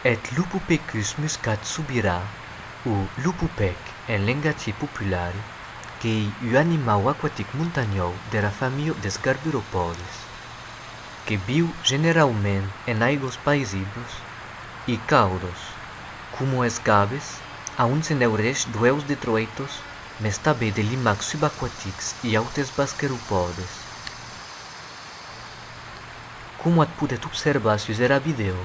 Eth lupupecus muscat subirà, o lupupèc en lengatge popular, qu'ei ua animau aquatic montanhòu dera familha des garburopòdes. que viu generaument en aigós paisiblos e caudos, coma es gaves, a on se neurèsh d'uèus de troitos mes tabé de limacs subaquatics e autes basqueropòdes. Coma ac podètz observar sus era vidèo,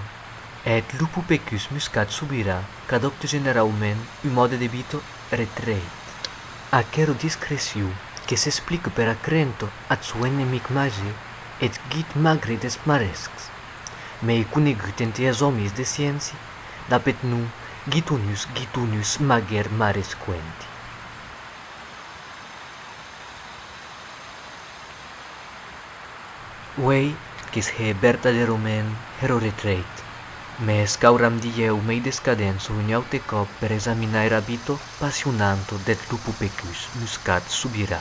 eth lupopecus muscat subirà qu'adòpte generaument un mòde de vita retrèit aquera discrecion que s'explique per acrènt ath sò enemic màger, eth guit magre des marescs, mei conegut ente es òmis de sciéncia dab eth nom Gitonus gitonus mager maresquenti. Uei que's hè vertaderomèn hèr o retrèit, mès qu'auram dilhèu mei d'escadents un aute còp per examinar era vito passionanto deth lupo pecus muscat subirà.